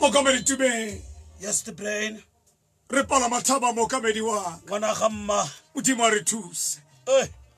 mokamedi tumeng yes the brain re pala mathaba mokamedi wa ngwana ga mma modimo a re thuse eh.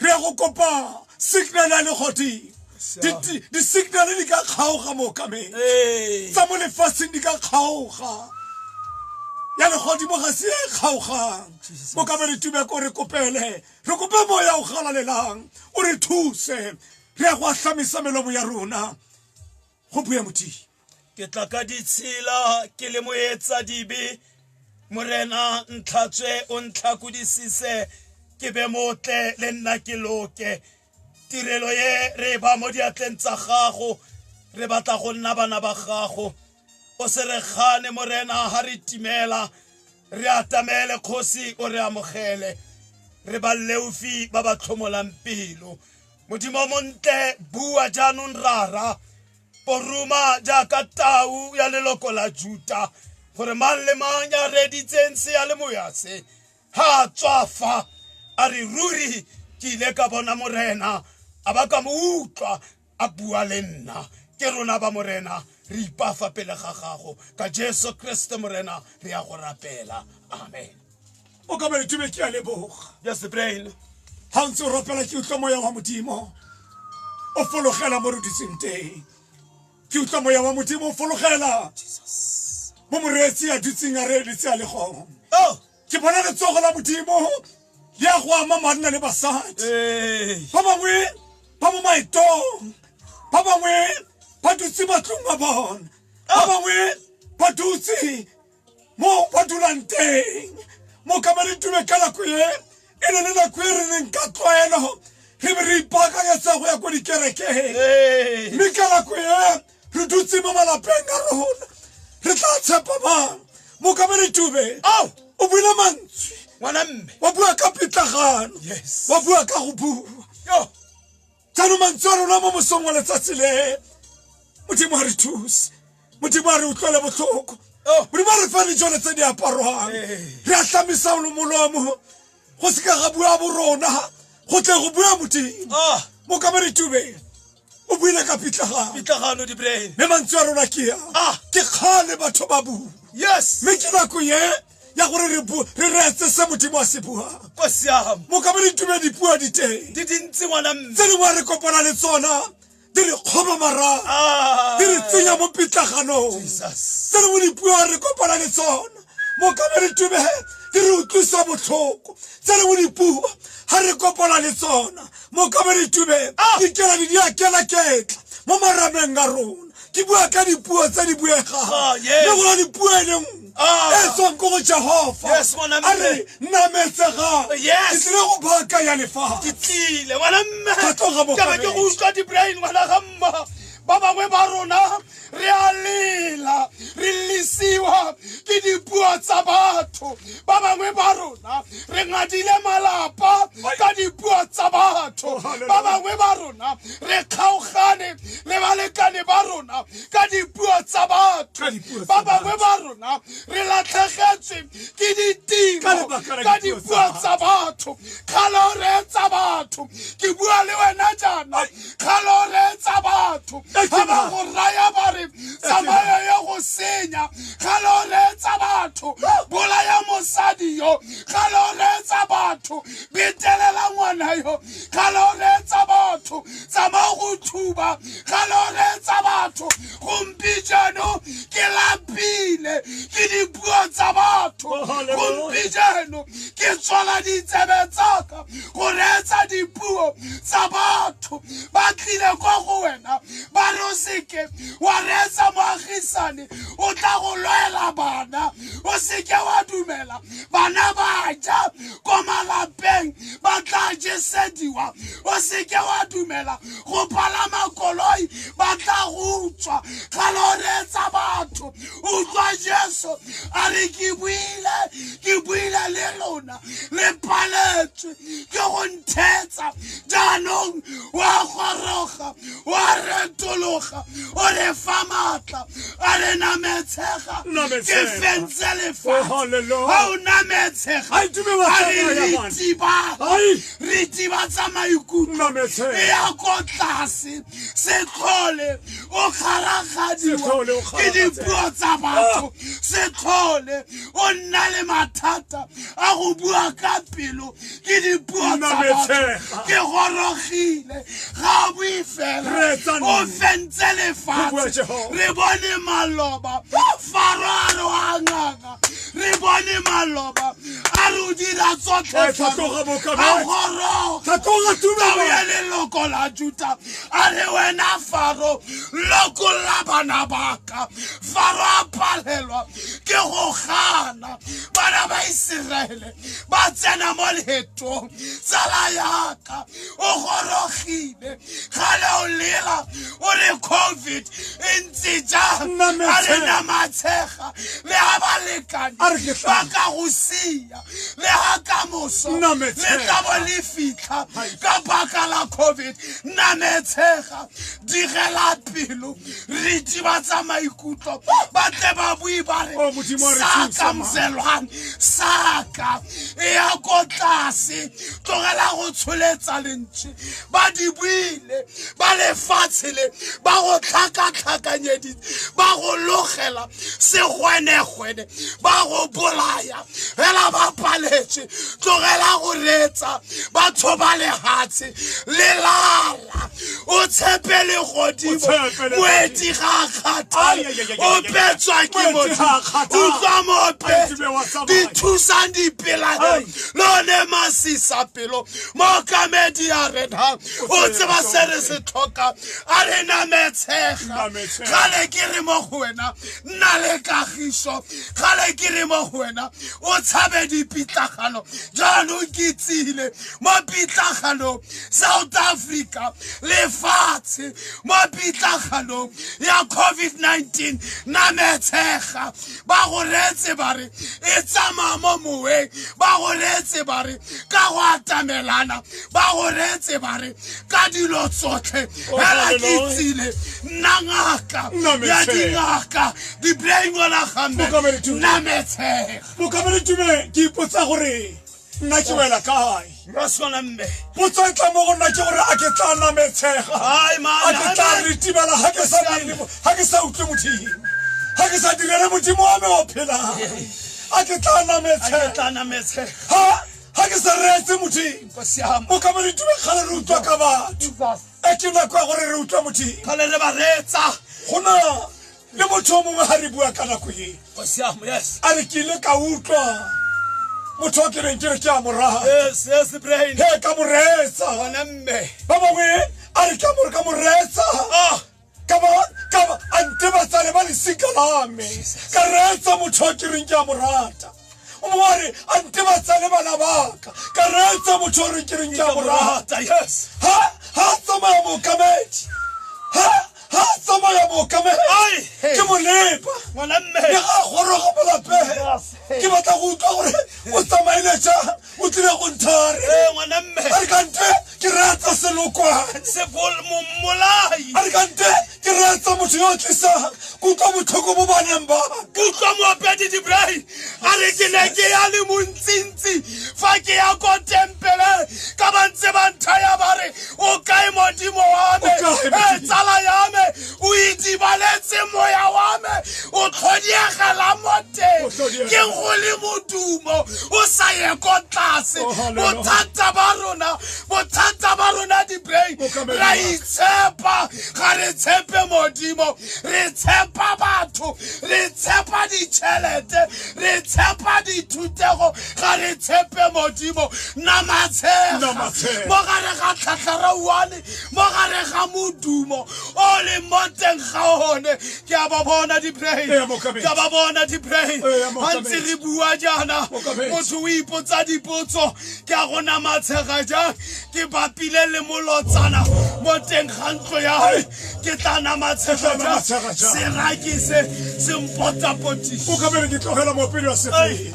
re go kopa signal ya legodimo di-signale di ka kgaoga mookamedi tsa mo lefatsheng di ka kgaoga ya legodimo ga se e kgaogang mokamedi tubeko re kopele re kope moya o galalelang o re thuse re ya go ahlamisa melomo ya rona go bue modimo ke tla ka ditshila ke le moetsa dibe morena ntlhatswe o ntlhakodisise ke be motle le nna ke loke tirelo ye re ba mo diatleng tsa gago re batla go nna bana ba gago o se re gane morena ha re timela re atamele kgosi o re amogele re ba leufi ba ba tlhomolang pelo modimo montle bua jaanong rara o ruma jaaka tau ya leloko la juta gore mang le mang ya reditseng se ya le moya se ha tswafa a re ruri ke ile ka bona morena a ba ka mo utlwa a bua le nna ke rona ba morena re ipafa pele ga gago ka jesu kriste morena re ya go rapela amen o ka ba le tume ke a leboga ya sebrain ga o ntse o rapela ke utlwa moya wa modimo o fologela mo re ditseng teng ke utlwa moya wa modimo o fologela mo moreetsi a dutseng a reeletse a legong oh! ke bona letsogo la modimo le ya go ama manna le basadi ba bangwe ba mo maetong ba bangwe ba dutse matlong a bona ba oh! bangwe ba dutse mo ba dulang teng mokamaditume ka nako e e ne le nako e re neng ka tlwaelo re be re ipaakanyetsa go ya ko dikerekeng mme ka nako e re dutse mo malapeng a rona re tla tshepa mang mokamaditume ao o buile mantswe ngwana mme wa bua ka pitlagano wa bua ka go bua jaanong mantswe a rona mo mosong wa letsatsi le modimo ga re thuse modimo a re utlwele botlhoko oh. modimo a re fa dijone tse di aparwang re a tlamisa molomo go se ka ga bua bo rona go tle go bua modimo ah. mo ka moretubeng o buile ka pitlagano mme mantswe a rona ke ya ah. ke kgale batho ba bua yes mme ke nako ye ya gore re re reetse se modimo a se buang ko siam mo ka bone tume dipuo di teng di dintsi ngwana mme tse dingwe re kopana le tsona di re kgoba marago ah. di re tsenya mo pitlaganong tse dingwe dipuo re kopana le tsona mo ka bone tume di re utlwisa botlhoko tse dingwe dipuo ga re kopana le tsona mo ka bone tume ah. di kela di di a kela ketla mo marameng a rona ke bua ka dipuo tse di buegang ah, le gona dipuo e lengwe Ah. e tswang ko go jehova Yes, ngwana a mme. re nametsegang Yes. ke tlile go baka ya lefaga ke tlile ngwana mme Ka tloga mo ke be ke go fareng. utlwa di-brain ngwana ga mma ba bangwe ba rona re a lela re lesiwa ke dipuo tsa batho ba bangwe ba rona re ngadile malapa ka dipuo tsa batho ba bangwe ba rona re kgaogane le balekane ba rona ka dipuo tsa batho ba bangwe ba rona re latlhegetswe ke ditiro ka dipuo tsa batho kgale o reetsa batho ke bua le wena jaana kgale o reetsa batho ga ba go raya ba re tsamayo ye go senya kgale o reetsa batho bolaya mosadi yo kgale o reetsa batho betelela ngwana yo ga lo reetsa batho tsamao go thuba ga lo reetsa batho gompi jano ke lapile ke dipuo tsa batho gompi jano ke tswala ditsebe tsaka go reetsa dipuo tsa batho ba tlile kwa go wena ba re o seke wa reetsa moagisane o tla go lwela bana o seke wa dumela bana ba ja ko malapeng ba tla jesediwa o seke wa dumela go palama koloi ba tla go utswa ga lo reetsa batho utlwa jesu a re ke buile ke buile le lona le paletswe ke go nthetsa jaanong wa goroga wa retologa o re fa maatla a re nametshega ke fentse lefatshe ga oh, o nametshega a re re tibatsa maikutlo e ya ko tlase setlhole o kgaragadiwa ke dipuo tsa batho ah. setlhole o nna le mathata a go bua ka pelo ke dipuo tsa batho ke gorogile ga o bue fela o fentse lefatshe re bone maloba faro a re wa ngaka re bone maloba a re o dira tsotlhe a gorogtaoye leloko la juta a re wena faro lokolla bana baka faro a palelwa ke go gana bana ba iseraele ba tsena mo leetong tsala yaka o gorogile ga le o lela o re covid e ntse jang a re na matshega le ga balekane ba ka go sia le ga ka moso le tla bo le fitlha ka baka la covid nna metshega digela pelo re tsiba tsa maikutlo ba tle ba bue ba re oh, sa kamzelwang saka e ya ko tlase tlogela go tsholetsa lentswe ba di buile ba lefatshe le ba go tlhakatlhakanyeditse ba go logela segwenegwene ba go bolaya fela ba paletswe tlogela go reetsa ba tshoba lehatshe le lare o tshepe le godimo moeti ga a kgathale o petswa ke motho utlwa mope dithusang dipelae lone masisa pelo mookamedi ya rena o tseba se re se tlhoka a re nametshega gale ke re mo go wena nna le kagiso gale ke re mo go wena o tshabe dipitlagano jaanong ke tsile mo pitlaganong south africa lefatshe mo pitlaganong ya covid-19 na metshega ba go reetse ba re e tsamaya mo moweng ba go reetse ba re ka go atamelana ba go reetse ba re ka dilo tsotlhe oh, fela ke itsile nna ngaka ya dingaka di-brain wala gamme nna metshega mokamedi tume ke ipotsa gore nna ke wela kae potso e tla mo go nna ke gore a ke tla nametshega a ke tla retibela ga ke sa ga ke sa utlwe modimo ga ke sa direle modimo wa me o phelang a ke tla nametshega ga ke sa reetse modimo o ka mo le tume kgale re utlwa ka batho e ke nako ya gore re utlwa modimo kgale re ba reetsa go na le motho o mongwe ga re bua ka nako e a re ke ile ka utlwa motho o ke beng ke re ke a moratae ka moreetsa ba bangwe a re ka more ka moreetsa ah. a ntebatsale ba lesika lame ka reetsa motho o ke reng ke a morata o mo wa re a nte ba tsale bana baka ka reetsa motho o re ke reng ke a morata ha ha tsamaya mookamedi ha ha tsamaya mookamedi ke molepa le ga goroga molapeng ke batla go utlwa gore o tsamaile jang o tlile go nthare ee ngwana mme a re kante ke reetsa selokwane sebolmolai a re kante ke reetsa motho yo o tlisang kutlwa botlhoko bo baneng ba kutlwa moopedi dibrai a re ke ne ke ya le montsintsi fa ke ya ko tempele ka ba ntse ba nthaya ba re o kae modimo wa me e tsala ya me o itsibaletse moya wa me o tlhodiegela mo teng ke go le modumo o sa ye ko tlase oh, bothata ba rona bothata ba rona dibrain ra itshepa ga re tshepe modimo re tshepa batho re tshepa ditšhelete re tshepa dithutego ga re tshepe modimo namatshega mo gare ga tlhatlhara one mo gare ga modumo o le mo teng ga one ke a ba bona di-brain ke a ba bona di-brain ga ntse re bua jaana motho o ipotsa dipotso ke a go namatshega jang ke bapile le molotsana mo teng ga ntlo ya me ke tla namatshega jang seraki se se mpotapotiso o ka bere ke tlogela mopele wa sepe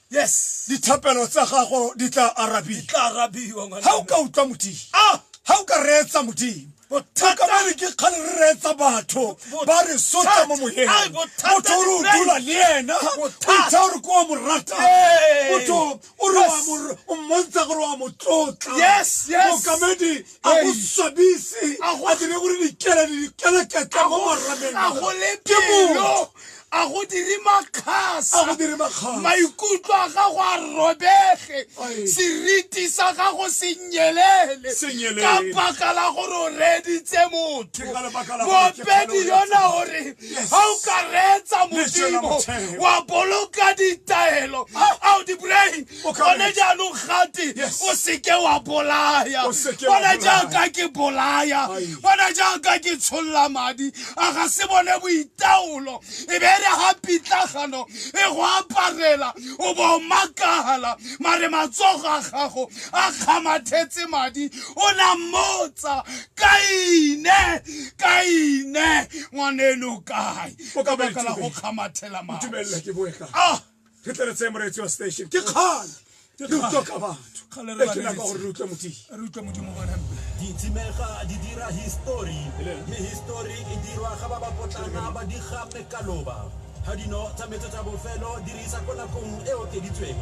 yes dithapelo tsa gago di tla arabiwa tla arabiwa ngwana ha o ka utlwa modimo ah ha o ka reetsa modimo bothata ba re ke kgale re reetsa batho ba re sotla mo moyeng motho o re o dula le ena o itsa gore ko wa mo rata motho o re o mmontsha gore wa mo tlotla mokamedi a go swabise a dire gore dikele le dikele ketla mo marameng ke motho a go dire makgasa maikutlo a gago a robege seriti sa gago se nyelele ka baka la gore o reeditse motho moopedi yona o re ga o ka reetsa modimo wa boloka ditaelo a o di boraeng O ka gone bolaya. jaanong gate Yes. o seke wa bolaya O seke wa bona bolaya. jaaka ke bolaya Ai. bona jaaka ke tsholola madi a ga se bone boitaolo e be re ga pitlagano e go aparela o bo o makala mare matsogo a gago a kgamathetse madi o na mmotsa kaine kaine ngwaneno kae O ka ka baka la go boletswe. kgamathela madi Ntumelela ke boe ka. Ah! re tle re tseye moreetsi wa station ke kgale ke utlwa ka batho e ke naka gore re utlwe modimo ditshimega di dira histori mme histori e dirwa ga ba ba potlana ba di gape ka loba ga dino tsa metso tsa bofelo dirisa ko nakong e okeditsweng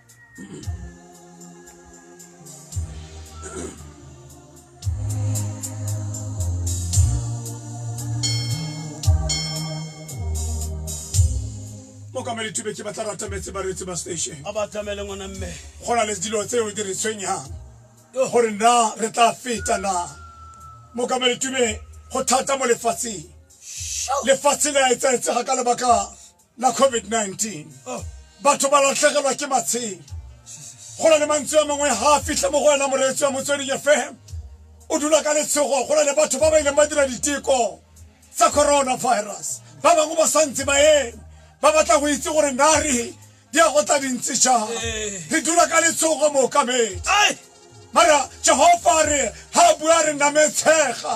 mo ka meditube ke batla rata metse bareetsi ba station a ba tlamele ngwana mme go na le dilo tse o di re tshwenyang gore na re tla feta na mo ka meditube go thata mo lefatsheng lefatshe le a etsaetsega ka lebaka la covid-19 oh. batho ba latlhegelwa ke matshelo go na le mantswe a mangwe ga a fitlhe mo go wena moreetsi wa motsweding fm o dula ka letshogo go na le batho ba ba ileng ba dira diteko tsa coronavirus ba bangwe ba santse ba eme ba batla go itse gore nare di ya go tla dintse jang eh. re dula ka letshogo mookamedi mara jehova a re ha a bua re nametshega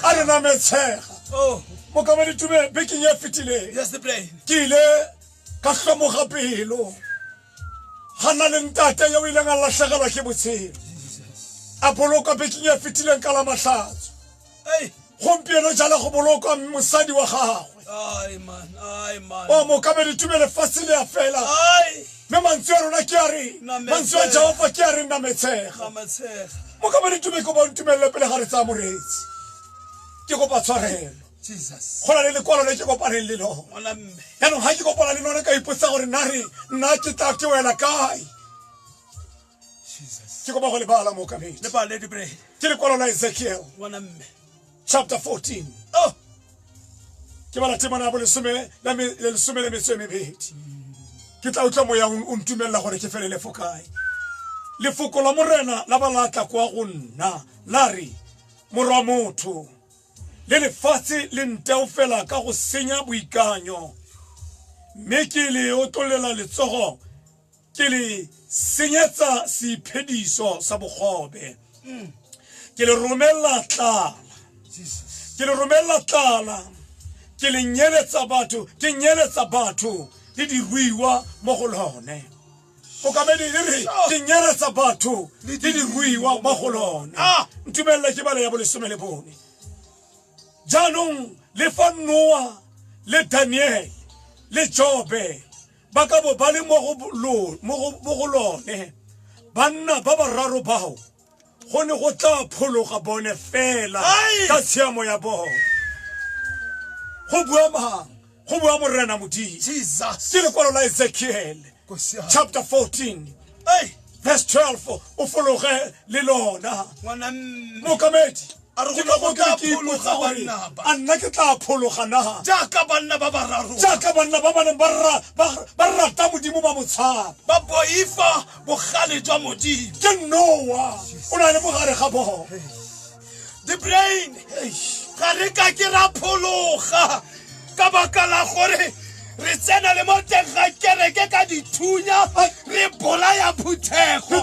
a re nametshega oh. mokama ditume bekeng e fetileng ke ile ka hlomoga pelo ga na le ntate yo o ileng a latlhegelwa ke botshelo a boloka bekeng e fetileng ka la matlhatso gompieno jala go bolokwa mosadi wa gagwe o mokamedi tume lefatshe le ya fela mme mantswe a rona ke a re mantswe a jehofa ke a re nna metshega mokamedi tume kopa ntumelelo pele ga re tsaya moreetsi ke kopa tshwarelo go na le lekwalo le ke kopaneng le lona yaanong ga ke kopana le lona ka ipotsa gore nna re nna ke tla ke wela kae Jesus. ke kopa go lebala mookamedi Le bale di bread. ke lekwalo la ezekiel Ngwana mme. chapter 14 Oh, ke bala temana ya bolesome la me- le lesome le metso e mebedi ke tla utlwa moya o o ntumelela gore ke felele fo kae lefoko la morena la ba la tla kwa go nna la re morwa motho le lefatshe le nteo fela ka go senya boikanyo mme ke le otlolela letsogo ke le senyetsa seiphediso sa bogobe mm. ke le romella tlala ke le romella tlala ke le nyeletsa batho ke nyeletsa batho le diruiwa mo go lone okamedi e re ke nyeletsa batho le diruiwa mo go lone ah! ntumelele ke bale ya bolesome le bone jaanong le fa noa le daniele le jobe ba ka bo ba le mo go lone banna ba bararo bao go ne go tla phologa bone fela ka tshiamo ya bone go bua mang go bua morena modimo ke lekwalo la ezekiele chapter 14 verse 12 o fologe le lona mokamedi a re go ne go tla phologa banna ba a nna ke tla phologa naga jaaka banna ba bararo jaaka banna ba ba neng ba rata modimo ba motshaba ba boifa bogale jwa modimo ke noa o na le mogare ga bogo the brain ga re ka ke ra phologa ka baka la gore re tsena le mo teng ga kereke ka dithunya re bolaya phuthego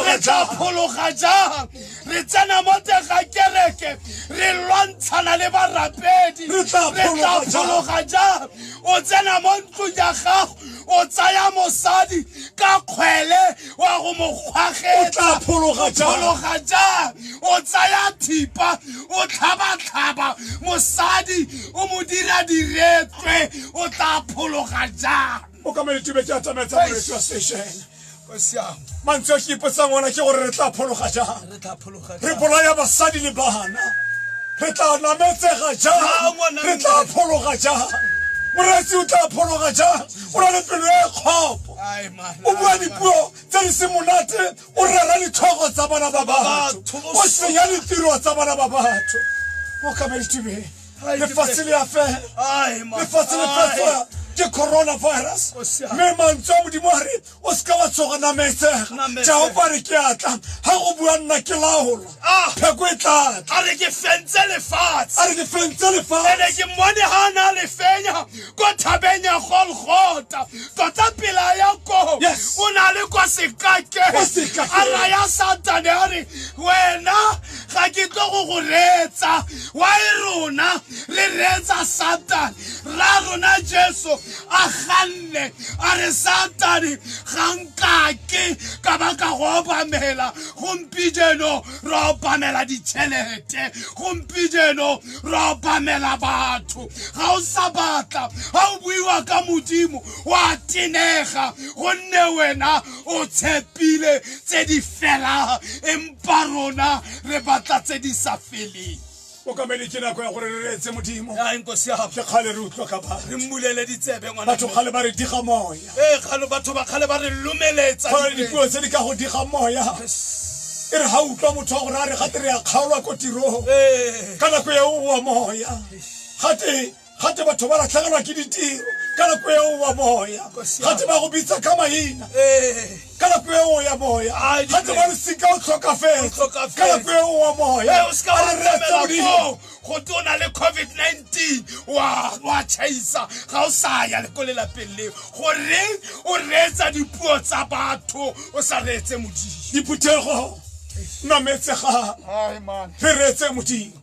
re tla phologa jang re tsena mo teng ga kereke re lwantshana le barapedi re tla phologa jang o tsena mo ntlong ya gago o tsaya mosadi ka kgwele o ya go mo kgwagetsa phologa jang o tsaya thipa o tlhabatlhaba mosadi o mo dira diretswe o tla phologa jang o ka maletube ke a tsamaetsa moretsi wa station mantswe a ke ipotsang ona ke gore re tla phologa jang re bolaya basadi le bana re tla nametsega jang re tla phologa jang moretsi o tla phologa jang o na le pelo e kgopo o bua dipuo tse di se monate o rera ditlhogo tsa bana ba batho o senya ditiro tsa bana ba batho mokamedi tibeng lefatshe le a fela lefatshe le fetsa ke coronavirus mme mantswe a modimo a re o se ka wa tsoga nametsega Nametsega. jehova re ke a tla ga go bua nna ke laola Ah. pheko e tla tla a re ke fentse lefatshe a re ke fentse ene lefatshe ke mmone ga a ne a le fenya ko thabeng ya golgota tota pela ya koo Yes. o na le kwa sekakeng Kwa sekakeng. a raya satane a re wena ga ke tlo go go reetsa wa e rona re reetsa satane ra rona jesu a ganne a re satane ga nkake ka ba ka go obamela gompijeno ra obamela ditšhelete gompijeno ra obamela batho ga o sa batla ga o buiwa ka modimo wa tenega gonne wena o tshepile tse di felang empa rona re batla tse di sa feleng o kamele ke nako ya gore re reetse modimo Hayi nkosi yabo. ke kgale re utlwa ka ba Re mmulele ditsebe ngwana. batho kgale ba re diga moya Eh galo batho ba kgale ba re lumeletsa. go na le dipelo. dipuo tse di ka go diga moya e re ga o utlwa motho wa gore a re gate re ya kgaolwa ko tirong Eh. ka nako eo wa moya gate gate batho ba latlhegelwa ke ditiro ka nako eo wa moya gate ba go bitsa ka maina ka nako eo ya moya gate ba losika o tlhokafetse ka nako eo wa moya a re retse modimo go tona le covid-19 wa chaisa ga o sa ya le ko lelapeng leo gore o reetsa dipuo tsa batho o sa reetse modimo diphuthego nametsega re reetse modimo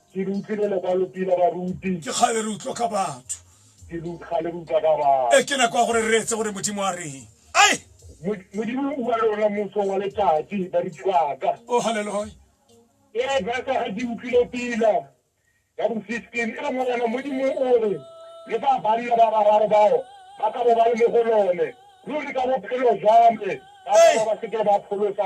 ke le utlwile lokwalopila baruti ke kgale re utlwa ka batho ke le kgale re utlwa ka batho e ke nako ya gore re etse gore modimo a reng ai modimo o bua le rona moso wa letsatsi baruti baka o oh, haleloya ee baka ga ke utlwile pila ya bo fifteen e re morena modimo o re le fa banna ba bararo bao ba ka bo ba le mo go lone ruri ka bophelo jwa me ba ba seke ba pholosa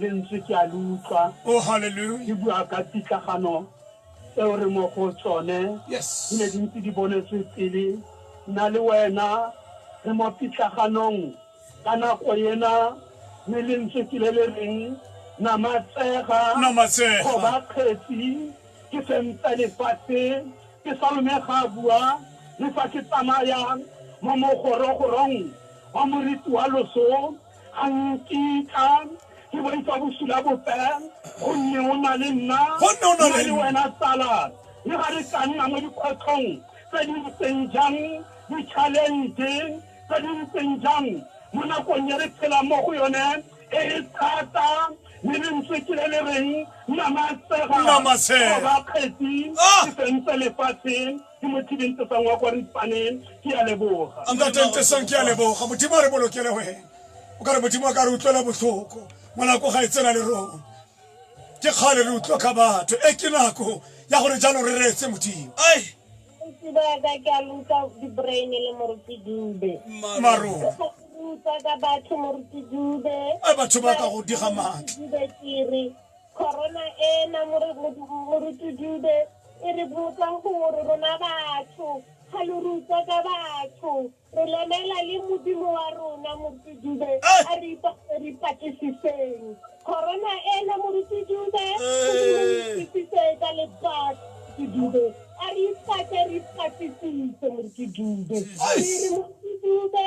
Lentswe ke a le utlwa Oh, hallelujah. le bua ka pitlagano tseo re mo go tsone Yes. di ne di ntse di bonetswe pele nna le wena re mo pitlaganong ka nako ena mme lentswe ke le le reng namatsega Namatsega. kgoba kgetsi ke fentsa lefatshe ke salome ga a bua le fa ke tsamaya mo mogorogorong wa moriti wa loso A nkitla ke boifa bosula bope, gonne o na le nna, Gonne o na le nna le nna. wena tsala. Le ga re ka nna mo dikgwetlhong tse di ntseng jang, di-challenge tse di ntseng jang, mo nakong e re phelang mo go yone e e thata, le lentswe ke le le reng, Namatsega, Namatsega. Kgoba kgetsi Ah! e fentse lefatshe. ke mo tibentesang wa kwa ripaneng ke ya leboga ntatentesang ke ya leboga modimo a re bolokele wena o ka re modimo a ka re utlwela botlhoko ngwanako ga e tsena le rona ke kgale re utlwa ka batho e ke nako ya gore jalo re reetse modimo ai sebaka ke a lutsa di-brain le moruti dube marona lutsa ka batho moruti dube a batho ba ka go diga maatla dube kere corona ena moruti dube E re botsa gore rona batho ga lo re utlwa ka batho re lemela le modimo wa rona moruti dube a re ipatse re ipatlisiseng corona ena moruti dube modimo o itisitse ka lebatho moruti dube a re ipatse re ipatlisise moruti dube re re moruti dube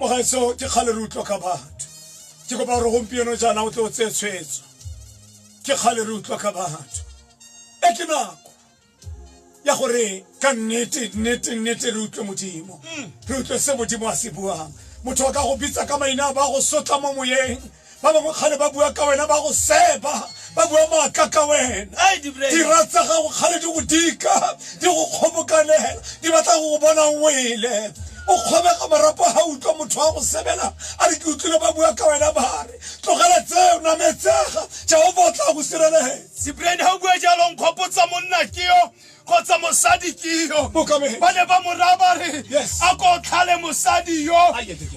Mogaetsho ke kgale re utlwa ka batho. Ke kopa gore gompieno jaana o tle o tseye tshwetso. Ke kgale re utlwa ka batho. E ke nako ya gore ka nnete nnete nnete re utlwe Modimo. Re utlwe se Modimo a se buang. Motho a ka go bitsa ka maina a ba go sotla mo moyeng. Ba bangwe kgale ba bua ka wena, ba go seba, ba bua maaka ka wena. Dira tsa gago kgale di go dika, di go kgobokanela, di batla go go bona o wele. O kgobega marapo ha o utlwa motho a go sebela a re, Ke utlwile ba bua ka wena ba re. Tlogela tseo, nametsega, Jehofa o tla go sireletsa. Cyprian, ha o bua jalo o nkgopotsa monna ke yo. kgotsa mosadi ke yo ba ne ba moraya ba re a ko tlhale mosadi yo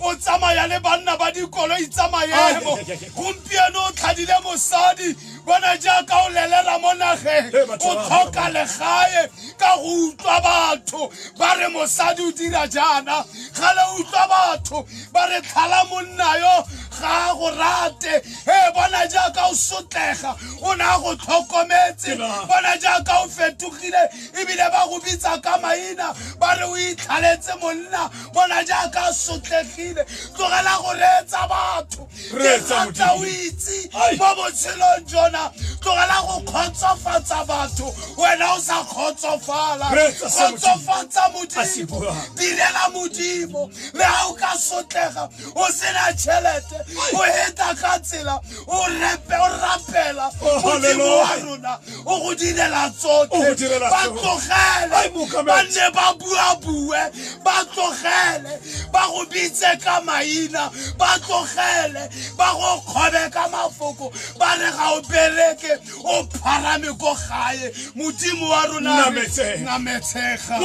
o tsamaya le banna ba dikoloi tsa maemo gompieno o tlhadile mosadi bona jaaka o lelera mo nageng o tlhoka legae ka go utlwa batho ba re mosadi o dira jaana ga le utlwa batho ba re tlhala monna yo ga go rate e bona jaaka o sotlega o ne a go tlhokometse bona jaaka o fetogile ebile ba go bitsa ka maina ba re o itlhaletse monna bona jaaka a sotlegile tlogela go reetsa batho ke ratla o itse mo botshelong jona tlogela go kgotsofatsa batho wena o sa kgotsofala kgotsofatsa modimo direla modimo le ga o ka sotlega o sena tšhelete o eta ka tsela o repe o rapela oh, modimo wa rona o go direla tsotlhe ba tlogele ba nne ba buabue ba tlogele ba go bitse ka maina ba tlogele ba go kgobe ka mafoko ba re ga o bereke o pharame ko gae modimo wa rona nametshega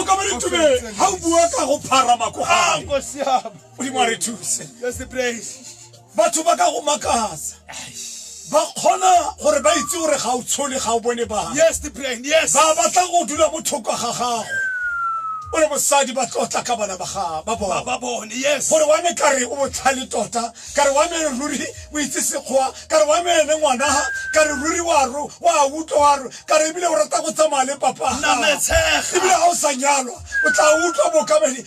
ga o bua ka go pharama ko gae ah, modimo a re thuse batho ba ka go makatsa ba kgona gore ba itse gore ga o tshole ga o bone ba ba batla go dula mo thoko ga gago o le mosadi ba tlotla ka bana ba bone gore wa me kare o botlhale tota kare wa me ruri o itse sekgwa kare wa me ene ngwana kare ruri wa ro wa utlwa wa ro kare ebile o rata go tsamaya le papa ebile ga o sa nyalwa o tla utlwa bokamedi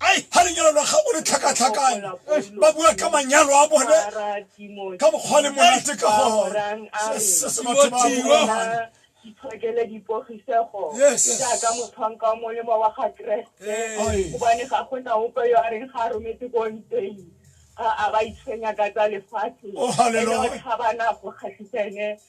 Ai, ha lenyalo la gago le tlhakatlhakane, ba bua ka manyalo a bone ka mokgwa le monate ka gone. Se se batho ba buang. Itshokele dipogisego jaaka motlhwanka wa molemo wa ga Keresete, gobane ga go na ope yo a reng ga a rometse ko ntweng. A ba itshwenya ka tsa lefatshe, ene o tlhabana go kgatlhisa ene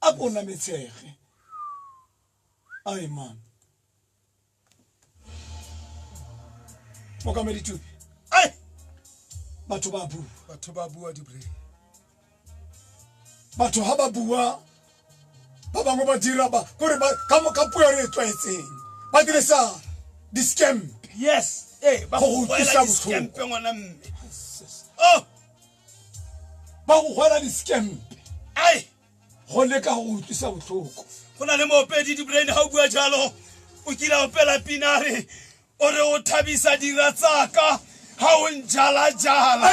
a ko nametshege amen mokamedi tupe ai batho ba bua batho ba bua dibre batho ha ba bua ba bangwe ba dira ba kore ba ka mo ka puo re tswetseng ba dire sa di scam yes eh ba go utlwisa botlhoko ngwana mme oh ba go goela diskempe ai go leka go utlwisa botlhoko go na le moopedi dibrain ga o bua jalo o kila opela pinare o re o thabisa dira tsaka ga o njalajala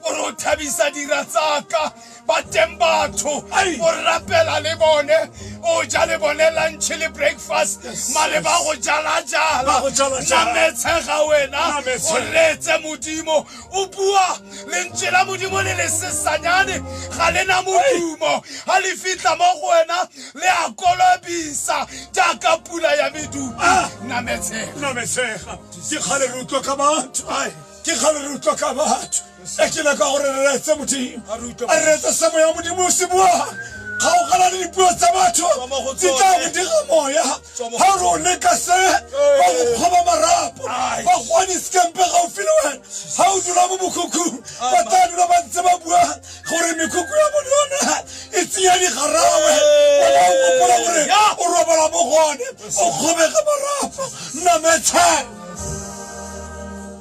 o re o thabisa dira tsaka bateng batho o rapela le bone o ja le bone lunch le breakfast mare ba go jalajala nametshega wena o retse modimo o bua lentswe la modimo le le sesanyane ga le na modumo ga le fitlha mo go wena le a kolobisa jaaka pula ya medumo ah! nametshega ke kgale re utlwa ka batho ke kgale re utlwa ka batho e ke leka gore re retse modimo a re retse semo ya modimo o se buang kgaogana le dipuo tsa batho di tla go dira moya ga re o leka se ba go kgoba marapo ba gone sekempe gaufi le wena ga o dula mo mokhukhung ba tla dula ba ntse ba bua gore mekhukhu ya bone yona e tsenya digarawe ona o gopola gore o robala mo gone o kgobege marapo nnametshang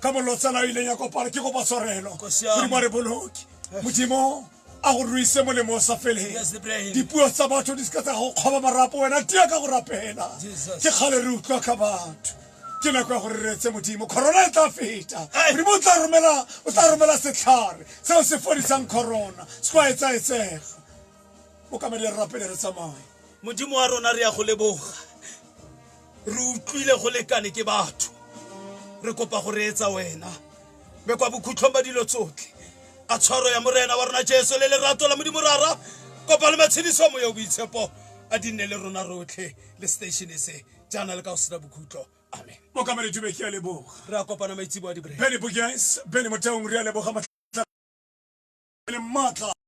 ka molotsana o ileng ya kopana ke kopa tshwarelo modimo re boloke modimo a go ruise molemo o sa feleng dipuo tsa batho di seka tsa go kgoba marapo wena tia ka go rapela ke kgale re utlwa ka batho ke nako ya gore re retse modimo corona e tla feta modimo o tla romela setlhare seo se fodisang corona se kwa etsaetsega o ka madi re rapele re tsamaye modimo wa rona re ya go leboga re utlwile go lekane ke batho re kopa go reetsa wena be kwa bokhutlhong ba dilo tsotlhe a tshwaro ya morena wa rona jesu le lerato la modimo rara kopa le matshediso moya o boitshepo a di nne le rona rotlhe le station se jaana le ka go sena bokhutlo amen mokamedi dube ke a leboga re a kopana maitsebo a dibre bene bogans bene motheong re a leboga matlha